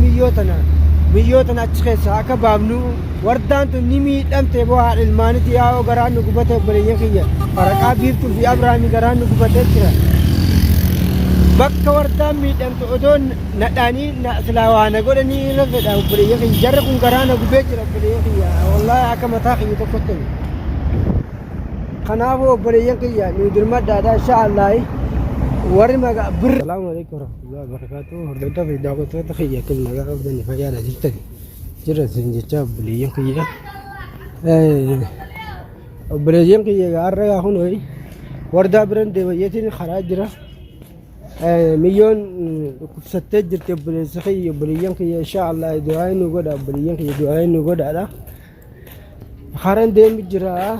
Miyyoo tana miyyoo tana achi keessaa akka baafnu wardaan tun ni miidhamte boo haadha ilmaaniti yaa'oo garaan nu gubate obboleeyyan kiyya faraqaa biiftuu fi abrahaami garaan nu gubatee jira bakka wardaan miidhamte odoo nadhaanii silaa waa na godhanii irra fedha obboleeyyan kiyya jarri kun garaa na gubee jira obboleeyyan kiyya wallaahi akka mataa kiyya tokkotti kanaafuu obboleeyyan kiyya nu dirmadhaadha insha allaahi warri magaa birri salaamu alaikum Alhamdulillah barakaatu hordoftoota fi daawwattoota kiyya kun nagaa qabdanii fayyaadha jirtan jirra isin jechaa obboleeyyan kiyya Eh, obboleeyyan kiyya egaa har'a gaa kun ho'i wardaa biran deebayyeetiin karaa jira Eh, miyyoon mm, dhukkubsattee jirti obboleessa kiyya obboleeyyan kiyya inshaa Allah du'aa inni godha obboleeyyan kiyya du'aa inni godhaadha Haran deemu jira.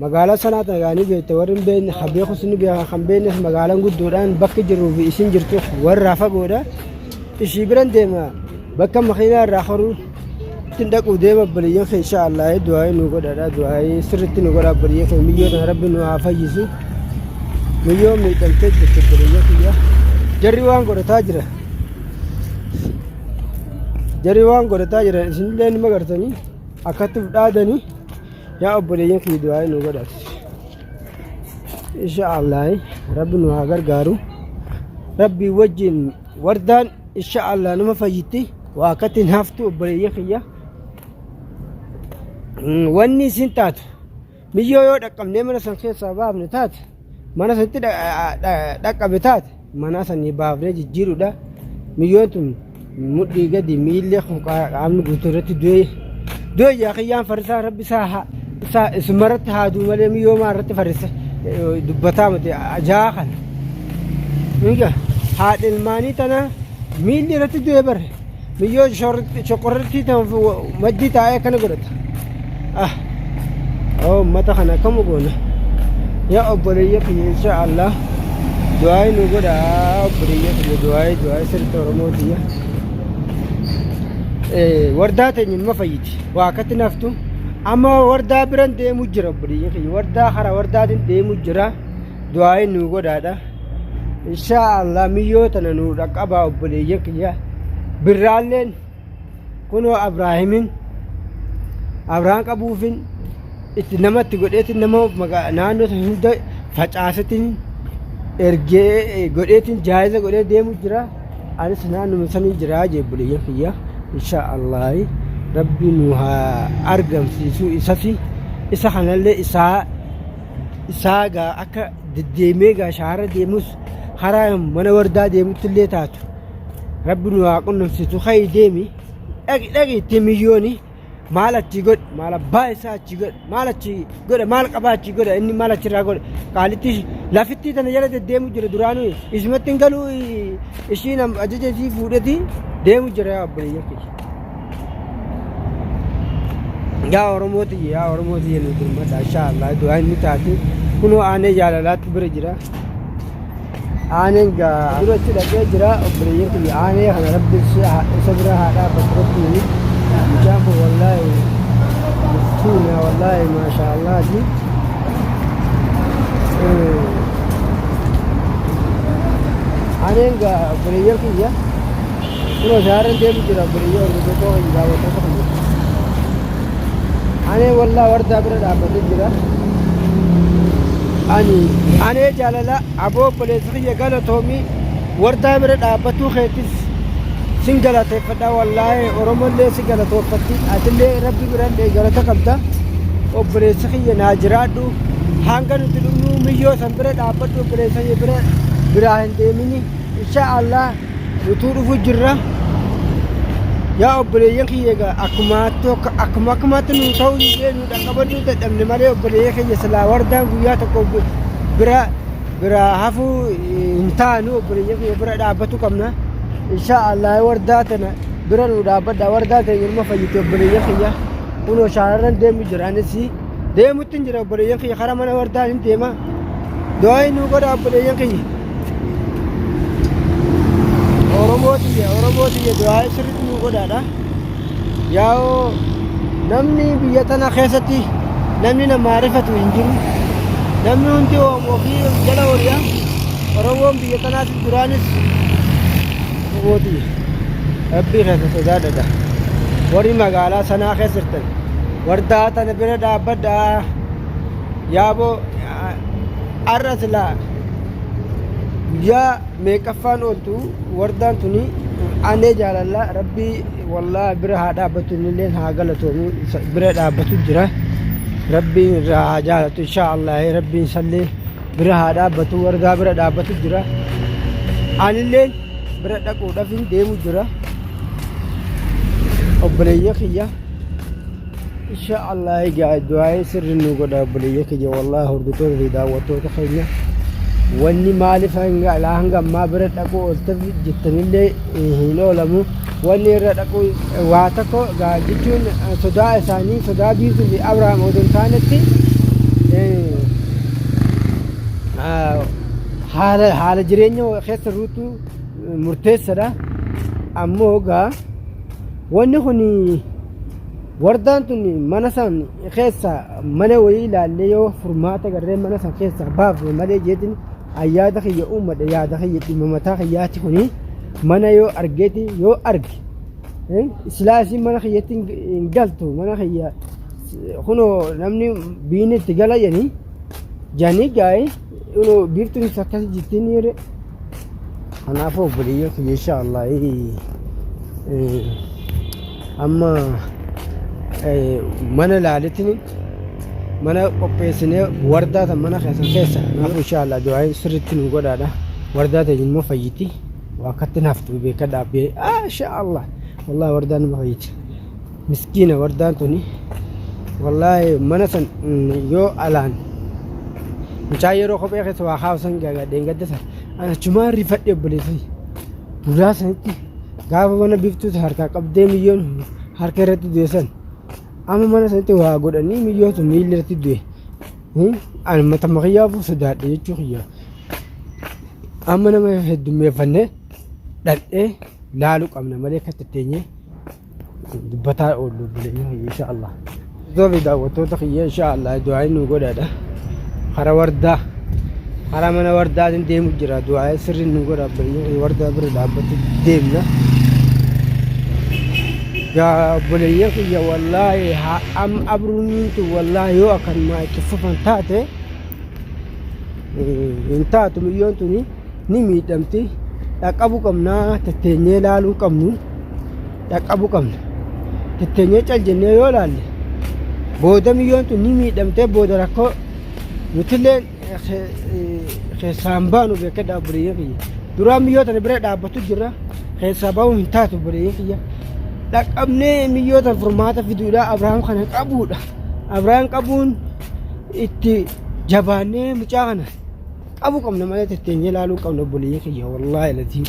Magaalaa sanaa tana yaanii beekte warri hin beekne kan beekus ni beeka kan beeknes magaalaan guddoodhaan bakki jiruu fi isin jirtu warraa fagoodha. Ishii biran deema bakka makiinaa irraa horuu ittiin dhaquu deema baliyyan kee insha Allah du'aayii nu godhadha du'aayii sirriitti nu godha baliyyan kee miyyoo tana rabbi nu haa fayyisu. Miyyoo miidhamtee jirti baliyyan kiyya. Jarri waan godhataa jira. Jarii waan godhataa jiran isinillee nima gartanii akkatti dhaadanii yaa obboleeyyan kiyya du'aa nu godhatu. Insha Allah rabbi nu haa gargaaru. Rabbi wajjin wardaan insha Allah nama fayyitti waa akkatti hin haftu obboleeyyan kiyya. Wanni isin taatu. Miyyoo yoo dhaqqabnee mana san keessaa baafne taate mana sanitti dhaqqabe taate manaa sanii baafnee jijjiirudha. Miyyoon tun mudhii gadi miillee qaamni guutuu irratti du'ee du'e yaa kiyyaan farisaa rabbi isaa haa isaa isuma irratti haa du'u malee miyyoo maa irratti farisa dubbataa miti ajaa kana. Miga haadha ilmaanii tana miilli irratti du'e bare. Miyyoo shoqorrittii ta'uuf maddii taa'ee akkana godhata. Ah, oo uummata kana akkam goona. Yaa obboleeyya kiyya insha Allah du'aayi nu godha obboleeyya kiyya du'aayi du'aayi sirriitti Oromoo kiyya. Eh, Wardaa teenya nima fayyiti waa akkatti naftu amma wardaa biran deemu jira obboleeyya kiyya wardaa hara wardaatiin deemu jira du'aayi nu godhaadha. inshaa allah miyyoo tana nuu dhaqqabaa obboleeyyan kiyya birraalleen kunoo abraahimin abraan qabuufin itti namatti godheetin nama naannoo san hunda facaasetin ergee godheetin jaayiza godhee deemu jira anis naannuma sanii jira jee obboleeyyan kiyya inshaa allah rabbi nu haa argamsiisuu isasi isa kanallee isaa isaa gaa akka deddeemee egaa shaara deemus karaa mana wardaa deemutti illee taatu rabbi nu haa qunnamsiisu ka'i deemi dhaqi dhaqi itti miyyooni maal achi godhe maal abbaa isaa achi godhe maal achi godhe maal qabaa achi godhe inni maal achirraa godhe qaalitti lafittii tana jala deddeemu jira duraanii isumatti hin galuu ishiin ajaja isii fuudheti deemu jira yaa obboleeyyan kiyya. yaa oromoo tiyya yaa oromoo tiyya nu dirmadha insha allah du'aa inni taate kunoo aanee jaalalaatti bira jira aaneen gaa duratti dhaqee jira obboleeyyan tiyya aanee kana rabbi isa bira haa dhaabbatu rabbiin mucaan kun wallaahi miskiina wallaahi maashaa allaati aaneen gaa obboleeyyan tiyya Kunoo shaarreen deemu jira obboleeyyii hordoftoota kiyya daawwattoota kiyya. Anee wallaa wardaa bira dhaabbatee jira. Ani anee jaalala aboo obboleessa kiyya galatoomii wardaa bira dhaabbatuu keetis sin galateeffadha wallaahi oromollee si galatoofatti atillee rabbi birallee galata qabda obboleessa kiyya naa jiraadhu hanga nuti dhumnuu miyyoo san bira dhaabbadhu obboleessa kiyya bira biraa hin deemini insha allah Nutuu dhufu jirra. Yaa obboleeyyan kiyya egaa akkuma tokko akkuma akkumatti nu ta'u illee nu dhaqqabaduu dadhabne malee obboleeyya keenya silaa wardaan guyyaa tokko bi- bira bira hafuu hin taanu obboleeyya keenya bira dhaabbatu qabna. Insha Allah wardaa tana bira nu dhaabbadha wardaa teenya ilma fayyite obboleeyya keenya kunoo shaararran deemu jira anis deemutti hin jira obboleeyyan kiyya karaa mana wardaan hin deema du'aayi nuu godha obboleeyyan kiyya oromoo tiyya oromoo tiyya du'aayi sirritti nuu godhaadha yaa'oo namni biyya tana keessatti namni namaa rifatu hin jiru namni hundi oomoo fi jala horiya oromoon biyya tanaatis duraanis oromoo tiyya rabbii keessa sodaadhadha warri magaalaa sanaa keessa jirtan wardaa tana bira dhaabbadha yaaboo arra silaa guyyaa meeqaffaan ooltu wardaan tuni anee jaalalla rabbii wallaa bira haa dhaabbatu innilleen haa galatoomu bira dhaabbatu jira rabbiin irraa haa jaalatu inshaa allah rabbiin sallee bira haa dhaabbatu wargaa bira dhaabbatu jira anilleen bira dhaquudhaaf hin deemu jira obboleeyya kiyya insha allah egaa du'aa'ee sirri nu godha obboleeyya kiyya wallahi hordoftoota fi daawwattoota keenya wanni maaliif hanga alaa hanga ammaa bira dhaquu oolteef jettanillee hin oolamu Wanni irra dhaquu waa tokko jechuun sodaa isaanii sodaa biiftuu fi Abrahaam odoo hin taanetti haala haala jireenya keessa ruutuu murteessadha. Ammoo egaa wanni kun wardaan tun mana san keessa mana wayii ilaallee yoo furmaata garreen mana san keessa baafne malee jeetiin ayyaada kiyya uummadha yaada kiyya dhimma mataa kiyyaati kuni. mana yoo argeeti yoo arge eh, silaa isin mana kiyyatti hin- hin galtu mana kiyya kunoo namni biinni itti gala jedhanii janii gaa'ee kunoo biiftuun isa akkas jirtiin yeroo kanaafuu obboleeyyan kiyya insha Allah eh, amma eh, mana laalitin mana qopheessinee wardaa tan mana keessan keessa kanaafuu insha Allah du'aayin sirriitti nu godhaadha wardaa ta'e immoo fayyiti waa akkatti naftu beekadha abbee asha allah wallahi wardaan nama fayyiti miskiina wardaan tuni wallahi mana san yoo alaan mucaa yeroo kophee keessa waa kaawsan gagadheen gadda san ana chumaa rifadhe obboleessi duraa sanitti gaafa mana biftuutu harkaa qabdee miyyoon harka irratti du'e san amma mana sanitti waa godhanii miyyootu miilli irratti du'e Ani mata makiyyaafuu sodaadhe jechuu kiyya. Amma nama heddummeeffannee dhaqxee laaluu qabna malee akka tatteenyee dubbataa oollu bulenii kiyya insha Allah. Zobi daawwattoota kiyya insha Allah du'aayi nu godhaadha. Hara wardaa hara mana wardaatiin deemu jira du'aayi sirriin nu godha bulenii kiyya wardaa bira dhaabbatu deemna. Yaa bulenii kiyya wallaahi haa Am abruun tun wallaahi yoo akkanumaa itti fufan taate hin taatu miyyoon tuni ni miidhamti dhaqqabuu qabnaa tetteenyee laaluu qabnu dhaqqabuu qabna tetteenyee cal jennee yoo laalle booda miyyoon tun ni miidhamtee booda rakkoo nutillee keessaa hin baanu beekadha obboleeyyan kiyya. Duraa miyyoo tana bira dhaabbatu jirra keessaa bahuun hin taatu obboleeyyan kiyya. Dhaqqabnee miyyoo tana furmaata fiduudha Abrahaam kana qabuudha. Abrahaam qabuun itti jabaannee mucaa kana qabu qabna malee tetteenyee ilaaluu qabna obboleeyyan kiyya wallaahi latiin.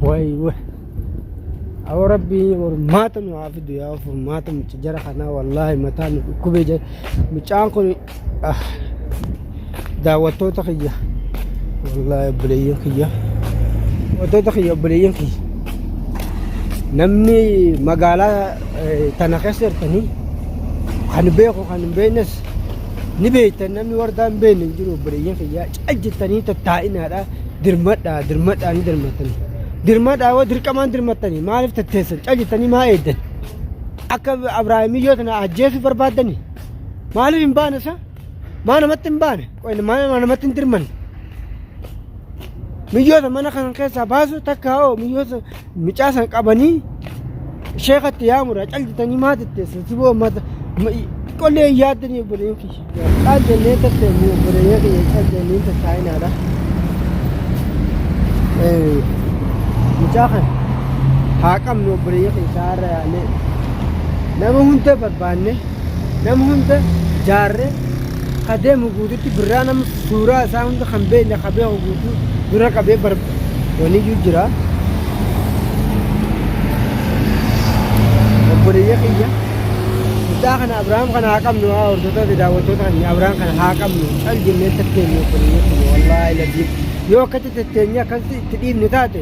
Wayi wayi. Awoo rabbii hormaata nu haa fidu yaa hormaata mucci jara kanaa wallaahi mataa nu dhukkubee jira mucaan kun ah, daawwattoota kiyya wallaahi obboleeyyan kiyya daawwattoota kiyya obboleeyyan kiyya namni magaalaa eh, tana keessa jirtanii kan beeku kan hin beeknes ni beektan namni wardaa hin beekne hin jiru obboleeyyan kiyya cal jettanii tattaa'inaadha dirmadhaa dirmadhaa ni dirmattani dirmadhaa yoo dirqamaan dirmattani maaliif tatteessan callistanii maa eeddan akka abraahimii yoo tana ajjeesuu barbaaddani maaliif hin baane sa maa namatti hin baane qoy maa maa namatti hin dirmanne miyyoota mana kan keessaa baasu takka hoo miyyoota Mucaa san qabanii sheekatti yaamudha cal jetanii maa tetteessan siboo mata qollee hin yaaddanii obboleeyyan kiyya. Cal jennee tetteessan obboleeyyan kiyya cal jennee tattaa'inaadha. Mucaa kana haa qabnu obboleeyyan kiyya isaa irra yaannee nama hunda barbaanne nama hunda jaarree Ka deemu guututti birraa nama suuraa isaa hunda kan beekne ka beeku guutuu dura qabee bar waniyyuu jira. Obboleeyya kiyya mucaa kana Abrahaam kana haa qabnu haa hordoftoota fi daawwattoota keenya Abrahaam kana haa qabnu cal jennee tatteenye obboleeyya kiyya wallaahi laziim yoo akkatti tatteenye akkatti itti dhiibnu taate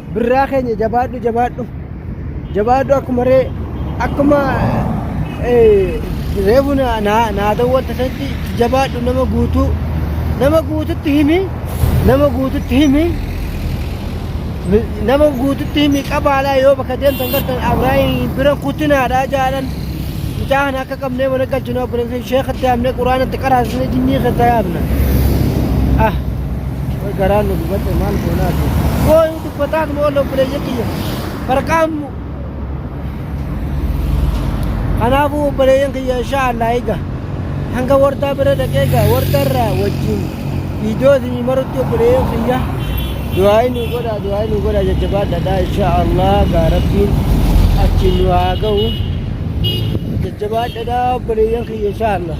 Birraa keenya jabaadhu jabaadhu. Jabaadhu akkuma ree akkuma reefu naa dawwatta sanatti jabaadhu nama guutuu nama guututti himi nama guututti himi nama guututti himi qabaalaa yoo bakka deemtan gartan abraahin bira kutinaadha jaalan mucaa kana akka qabnee mana galchinu abboleessa sheekha itti yaamnee quraana itti qaraasisnee jinnii keessa yaamna ah way garaan nu dubatte maal goonaati way dubbataa tuma olla obboleeyya kiyya barqaammu kanaafuu obboleeyyan kiyya inshaa allah eega hanga wardaa bira dhaqee egaa wardarraa wajjin Iddoo isin marutti obboleeyyan kiyya du'aayi nu godha du'aayi nu godha jajjabaadhaadha insha Allah gaa rabbiin achi nu haa ga'u jajjabaadhaadha obboleeyyan kiyya insha Allah.